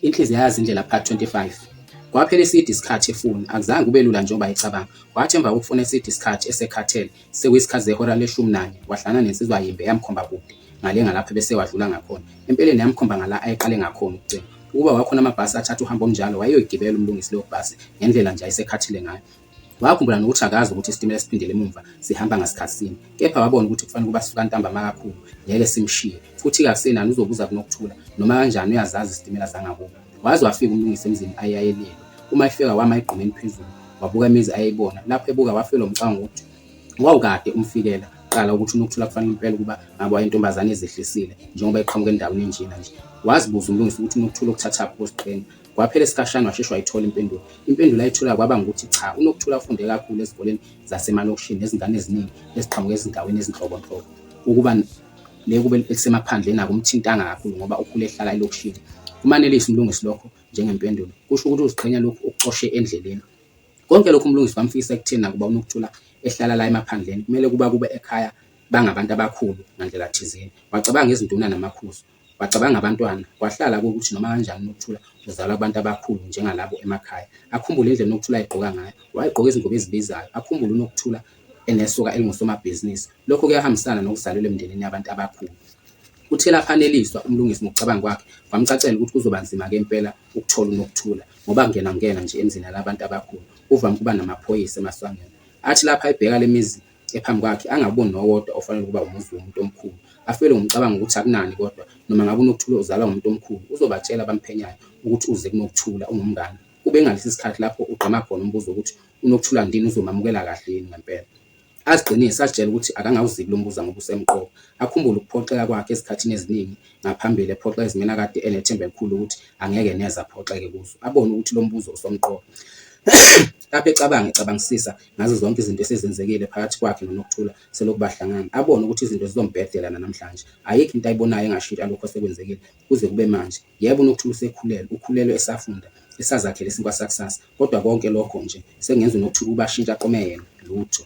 Inhliziyo yazi indlela part 25. Kwaphela iside isikhathi efuna, akuzange kube lula njengoba ayecabanga. Wathi emva kokufuna eside isikhathi esekhathele, sekuyisikhathi zehora leshumi nanye, wahlana nensizwa yimbe yamkhomba kude, ngale ngalapho ebese wadlula ngakhona. Empeleni yamkhomba ngala ayeqale ngakhona ukucima. Ukuba wakhona amabhasi athatha uhambo olunjalo, wayeyoyigibela uMlungisi leyo bhasi, ngendlela nje ayesekhathele ngayo. Wakhumbula nokuthi akazi ukuthi isitimela siphindele emumva sihamba ngasikhathi sini, kepha wabona ukuthi kufanele ukuba sisuka ntambama kakhulu, ngeke simshiye. Futhi kasenani uzobuza kunokuthula, noma kanjani uyazazi izitimela zangakubo. Waze wafika umlungisi emzini ayeyayelelwe. Uma efika wama egqumeni phezulu, wabuka imizi ayeyibona. Lapho ebuka wafelwa umcabango ukuthi wawukade umfikela kuqala ukuthi unokuthula kufanele impela ukuba ngabe wayentombazane ezehlisile njengoba eqhamuka endaweni enjena nje. Wazibuza umlungisi ukuthi unokuthula ukuthathaphi kusiqinga. Kwaphela isikhashana washeshe wayithola impendulo. Impendulo ayithola kwaba ngukuthi cha, uNokuthula ufunde kakhulu ezikoleni zasemalokishini nezingane eziningi eziqhamuka ezindaweni ezinhlobonhlobo. Ukuba le kube elisemaphandleni akumthintanga kakhulu ngoba ukhule ehlala elokishini. Kumanelisa uMlungisi lokho njengempendulo. Kusho ukuthi uziqhenya lokhu ukucoshe endleleni. Konke lokhu uMlungisi kwamfikisa ekutheni nakuba uNokuthula ehlala la emaphandleni kumele kuba kube ekhaya bangabantu abakhulu ngandlela thizeni. Wacabanga izinduna namakhuzu. Wacabanga abantwana, kwahlala kukuthi noma kanjani uNokuthula uzalwa kubantu abakhulu njengalabo emakhaya. Akhumbule indlela uNokuthula ayegqoka ngayo. Wayegqoka izingubo ezibizayo. Akhumbule uNokuthula enesoka elingusomabhizinisi. Lokho kuyahambisana nokuzalelwa emndenini yabantu abakhulu. Kuthe lapho aneliswa uMlungisi ngokucabanga kwakhe, kwamcacela ukuthi kuzoba nzima-ke impela ukuthola uNokuthula ngoba kungena ngena nje emzini yalabantu abakhulu kuvame ukuba namaphoyisa emasangweni. Athi lapho ayibheka le mizi ephambi kwakhe angaboni nowodwa ofanele ukuba umuzi womuntu omkhulu, afelwe ngumcabango wokuthi akunani kodwa noma ngabe uNokuthula uzalwa ngumuntu omkhulu uzobatshela abamphenyayo ukuthi uze kuNokuthula ungumngani. Kube ingalesi isikhathi lapho ugqama khona umbuzo wokuthi uNokuthula ndini uzomamukela kahle yini ngempela. Aziqinise azitshele ukuthi akangawuziki lo mbuza ngoba usemqoka. Akhumbule ukuphoxeka kwakhe ezikhathini eziningi ngaphambili ephoxa ezimeni akade enethemba elikhulu ukuthi angeke neze aphoxeke kuzo. Abone ukuthi lo mbuzo usomqoka. Lapho ecabanga ecabangisisa ngazo zonke izinto esezenzekile phakathi kwakhe noNokuthula selokhu bahlangana, abone ukuthi izinto zizombhedela nanamhlanje. Ayikho into ayibonayo engashintsha lokhu osekwenzekile kuze kube manje. Yebo, uNokuthula usekhulelwe, ukhulelwe esafunda, esazakhela isinkwa sakusasa, kodwa konke lokho nje sekungenza uNokuthula ukuba ashintshe aqome yena. Lutho.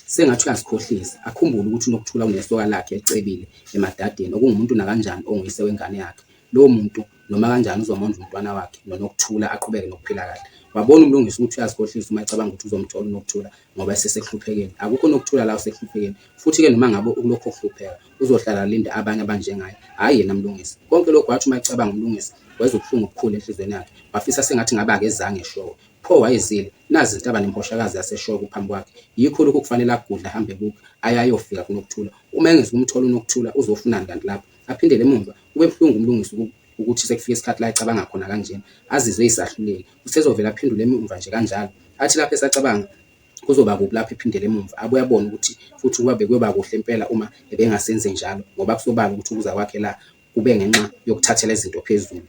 Sengathi uyazikhohlisa, akhumbule ukuthi uNokuthula unesoka lakhe elicebile emadadeni, okungumuntu nakanjani onguyise wengane yakhe. lowo muntu noma kanjani uzomondla umntwana wakhe noNokuthula aqhubeke nokuphila kahle. Wabona uMlungisi ukuthi uyazikhohlisa uma ecabanga ukuthi uzomthola uNokuthula ngoba esesek'hluphekeni. Akukho Nokuthula la usek'hluphekeni futhi-ke noma ngabe ukulokhu ekuhlupheka uzohlala alinde abanye abanjengaye hhayi yena Mlungisi. Konke lokhu wathi uma ecabanga uMlungisi wezwa ubuhlungu obukhulu enhlizweni yakhe wafisa sengathi ngabe akezanga eShowe. Pho wayezile? Nazi izintaba nemposhakazi yaseShowe kuphambi kwakhe. Yikho lokhu kufanele agudle ahambe ebukha aye ayofika kuNokuthula. Uma engezi kumthola uNokuthula uzofunani kanti lapho? Aphindele emumva, kube buhlungu uMlungisi ukuthi sekufike isikhathi la ecabanga khona kanjena, azizwe eyisahluleki. Usezovele aphendule emumva nje kanjalo. Athi lapho esacabanga kuzoba kubi lapho ephindele emumva, abuye abone ukuthi futhi ukuba bekuyoba kuhle impela uma ebengasenze njalo ngoba kusobala ukuthi ukuza kwakhe la kube ngenxa yokuthathela izinto phezulu.